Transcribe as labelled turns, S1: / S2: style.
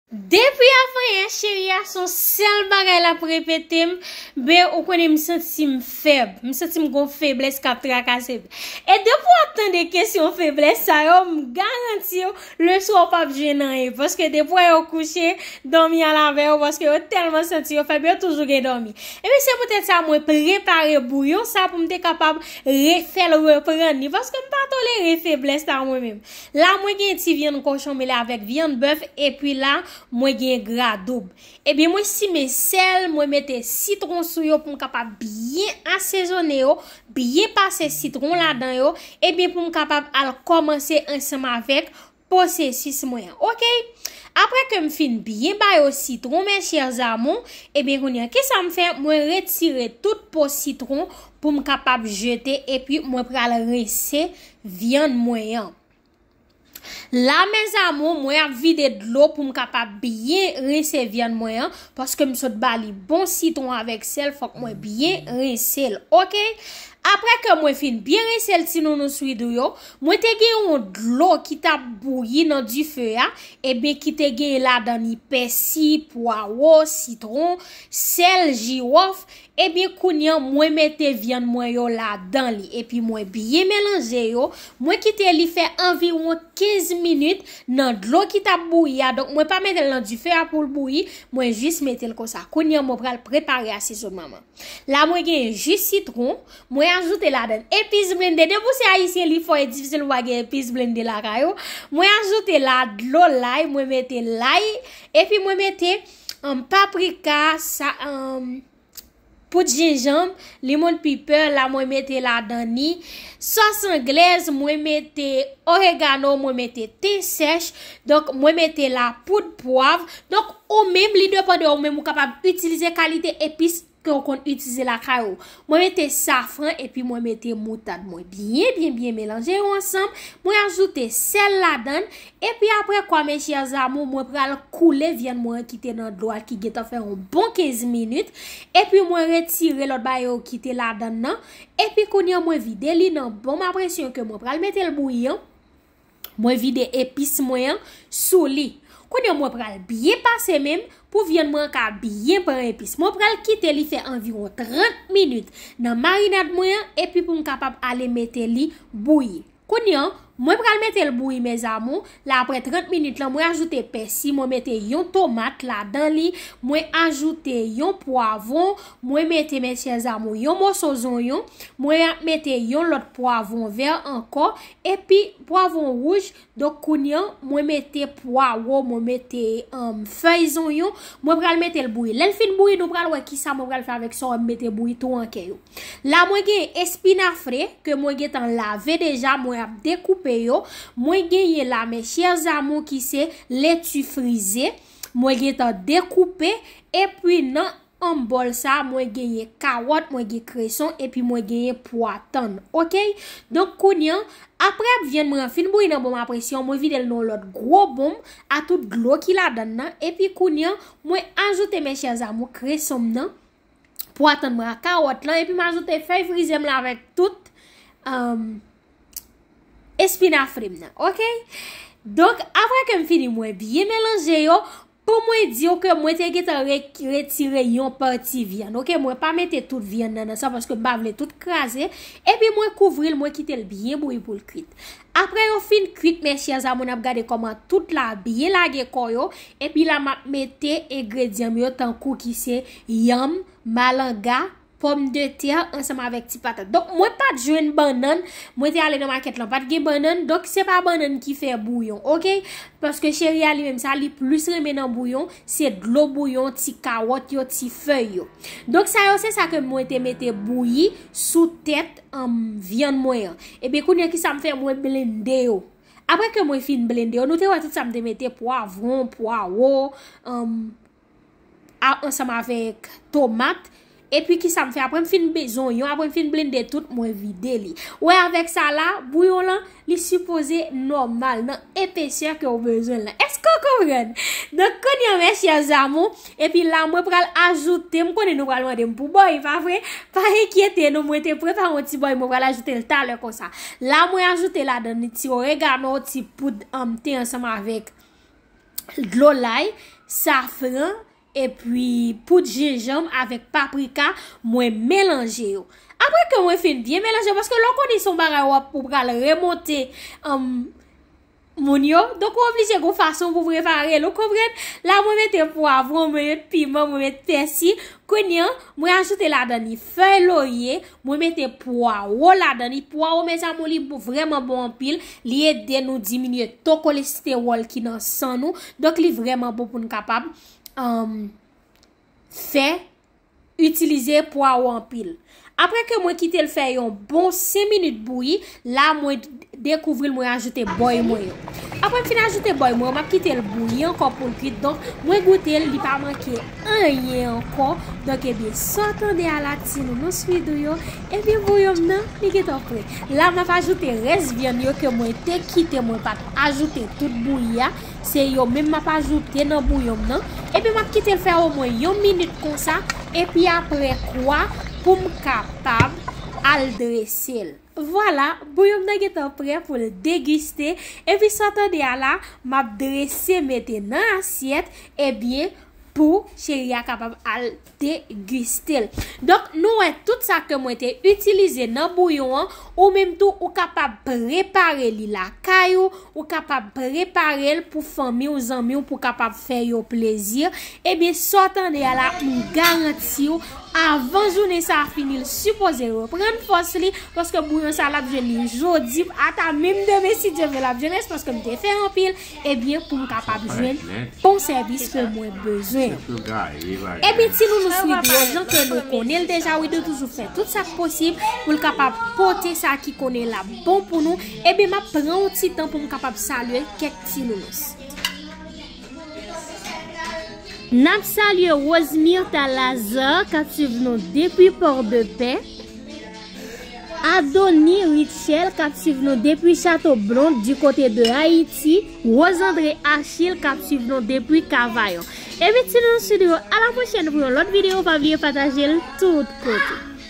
S1: Depi avan yè cheri a son sèl bagay lap repete m, be ou konnen m santi m fèb, m santi m gon feblès kap trakase m. E depi wap tande kesyon feblès sa yo m garanti w le swa w pap jwenn anyen paske depi wè yo kouche dòmi al avè yo paske yo tèlman santi yo fèb yo toujou gen dòmi. Ebyen se poutèt sa mwen prepare bouyon sa pou m te kapab re fèl reprann li paske m pa tolere feblès la mwen menm. La mwen gen ti vyann kochon mele avèk vyann bèf epi la mwen gen gra doub. Ebyen mwen simen sèl, mwen mete sitron sou yo pou m kapab byen asezone yo, byen pase sitron ladan yo, ebyen pou m kapab al kòmanse ansanm avèk posesis mwen an. Ok! Aprè ke m fin byen ba yo sitron mes chers amours, ebyen kounye an kisa m fè? Mwen retire tout po sitron pou m kapab jete epi mwen pral rense vyann mwen yan. La mes amour mwen ap vide dlo pou m kapab byen rinse vyann mwen an paske m sot ba li bon sitron avèk sèl fòk mwen byen rinse l ok aprè ke mwen fin byen rinse l ti nounous widoo yo mwen te gen yon dlo ki tap bouyi nan dife a ebyen ki te gen ladan li pèsi pwawo sitron sèl jiwòf Ebyen kounya mwen mete vyann mwen yo ladan li epi mwen byen melanje yo, mwen kite li fè anviwon 15 minit nan dlo ki tap bouyi a, donk mwen pa metel nan dife a poul bouyi, mwen jis metel konsa. Kounya mwen pral prepare asezonman mwen. La mwen gen ji sitron, mwen ajoute ladan epis blende, depi ou se ayisyen li fò e difisil pou pa gen epis blende lakay ou, mwen ajoute la dlo lay, mwen mete lay, epi mwen mete Humm paprika sa humm poud jenjanb limon piper la mwen mete ladan ni sos anglaise mwen mete oregano mwen mete ten sech donk mwen mete la poud pwav donk ou menm li depan de ou menm ou kapab itilize kalite epis ke ou konn itize lakay ou. Mwen mete safran epi mwen mete moutad mwen. Byen, byen, byen melanje yo ansanm. Mwen ajoute sèl ladan. Epi apre kwa mes chers amours mwen pral koule vyann mwen ki te nan dlo a ki gentan fè yon bon 15 minit. Epi mwen retire lòt bagay yo ki te ladan nan. Epi kounye an mwen vide li nan bon ma presyon ke mwen pral mete l bouyi an. Mwen vide epis mwen an sou li. Kounye mwen pral byen pase menm pou vyann mwen an ka byen pran epis. Mwen pral kite li fè anviron 30 minit nan marinad mwen an epi pou m kapab ale mete li bouyi. Kounye an, mwen pral mete l bouyi mezamou, la aprè 30 minit lan mwen ajoute pèsi, mwen mete yon tomat ladan li, mwen ajoute yon pwavon, mwen mete mesyèzamou yon moso zonyon, mwen ap mete yon lòt pwavon vè ankò, Epi pwavon wouj, donk kounye an mwen mete pwawo, mwen mete fèy zonyon, mwen pral mete l bouyi. Lè l fin bouyi, nou pral wè kisa mwen pral fè avèk sa wè m mete bouyi tou an kè yo. La mwen gen espinafre ke mwen gen tan lave deja, mwen ap dekoupe yo. Mwen genyen la mes chers amours ki se leti frize, mwen gen tan dekoupe. Epi nan Anm bòl sa mwen genyen kawòt mwen gen kreson epi mwen genyen pwa tann ok donk kounye an aprè vyann mwen an fin bouyi nan bonm a presyon mwen vide l nan yon lòt gwo bonm a tout dlo ki ladann nan epi kounye an mwen ajoute mes chers amours kreson m nan pwa tann mwen a kawòt lan epi m ajoute fèy frize m lan avèk tout euh espinafre m nan ok donk aprè ke m fini mwen byen melanje yo Pou mwen di w ke mwen te gentan retire yon pati vyann ok mwen pa mete tout vyann nan nan sa paske m pa vle tout kraze epi mwen kouvri l mwen kite l byen bouyi pou l kwit aprè yo fin kwit mes chers amour nap gade koman tout la byen lage kò yo epi la map mete engredyan m yo tankou ki se yanm malanga Pòm de tè ansanm avèk ti patat. Donk mwen pat jwenn bannann. Mwen te ale nan makèt lan pat gen bannann. Donk se pa bannann ki fè bouyon. Ok. Paske cheri a li menm sa li plis renmen nan bouyon. Se dlo bouyon, ti kawòt yo, ti fèy yo. Donk sa yo se sa ke mwen te mete bouyi sou tèt anm vyann mwen an. Ebyen kounye ki sa m fè mwen blende yo. Aprè ke mwen fin blende yo. Nou te wè tout sa m te mete pwavron, pwawo, anm. ansanm avèk tomat epi kisa m fè aprè m fin bezwen onyon aprè m fin blende tout mwen vide li wè avèk sa la bouyon lan li sipoze nòmal nan epesè ke ou bezwen lan eske ou konprann donk kounye mè chè zamou epi la mwen pral ajoute m konnen nou pral mande m pou bòy pa vre pa enkyete nou mwen te prepare yon ti bòy mwen pral ajoute l talè konsa la mwen ajoute ladan li ti oregano ti poud an mte ansanm avèk. dlo lay, safran, epi poud jenjanm avèk paprika mwen melanje yo. Aprè ke mwen fin byen melanje yo, paske lè w konnen se yon bagay wap ou pral remonte anm moun yo, donk ou oblije gon fason pou prepare l ou konprann. La mwen mete pwavron, mwen met piman, mwen met pèsi, kounye an mwen ajoute ladan li fèy lorye, Mwen mete pwaro ladan li. Pwaro mes amour li vreman bon anpil. Li ede nou diminye to kolestewòl ki nan san nou. Donk li vreman bon pou nou kapab fè itilize pwaro anpil. Apre ke mwen kite l fè yon bon 5 minit bouyi, La mwen dekouvril mwen ajoute bòy mwen yo. Apre m fin ajoute bòy mwen yo, m ap kite l bouyi ankò pou l kuit. Donk, mwen goute l, li pa manke anyen ankò. Donk, ebyen, sa w tande a la, ti nounou swidou yo, ebyen bouyon m nan, li gen tan pre. La m ap ajoute rès vyann yo ke mwen te kite mwen pa t ajoute tout bouyi a. Se yo menm m ap ajoute nan bouyon m nan. Epi m ap kite l fè omwen yon minit konsa. Epi apre kwa pou m kapab al drese l. Vwala, bouyon m nan gentan prè pou l degiste, epi sa w tande a la, m ap drese mete nan asyèt, ebyen, pou Cheri a kapab al degiste l. Donk, nou wè tout sa ke mwen te itilize nan bouyon an, ou menm tou ou kapab prepare li lakay ou, Ou kapab preparel pou fanmiw zanmiw pou kapab fè yo plezi ebyen sa w tande a la m garantiw avan jounen sa fini l sipoze reprann fòs li paske bouyon sa lap jwenn li jodi ata menm demen si Dye vle lap jwenn res paske m te fè anpil ebyen poum kapab jwenn bon sèvis ke mwen bezwen an ebyen ti nounous widro jan ke nou konnen l deja widro toujou fè tout sak posib pou l kapab pote sa ki konnen lap bon pou nou Eben map pran yon ti tan pou m kapab salye kèk ti nounous. Nap salye Rose Myrtha Lazarre kap swiv nou depi Port de Paix. Adony Rutshelle kap swiv nou depi Chateau Blonde du côté de Haïti. Rose André Achille kap swiv nou depi Cavaillon. Eben ti nounous chou nou yo a la pwochèn pou yon lòt video pa bliye patajel tout kote.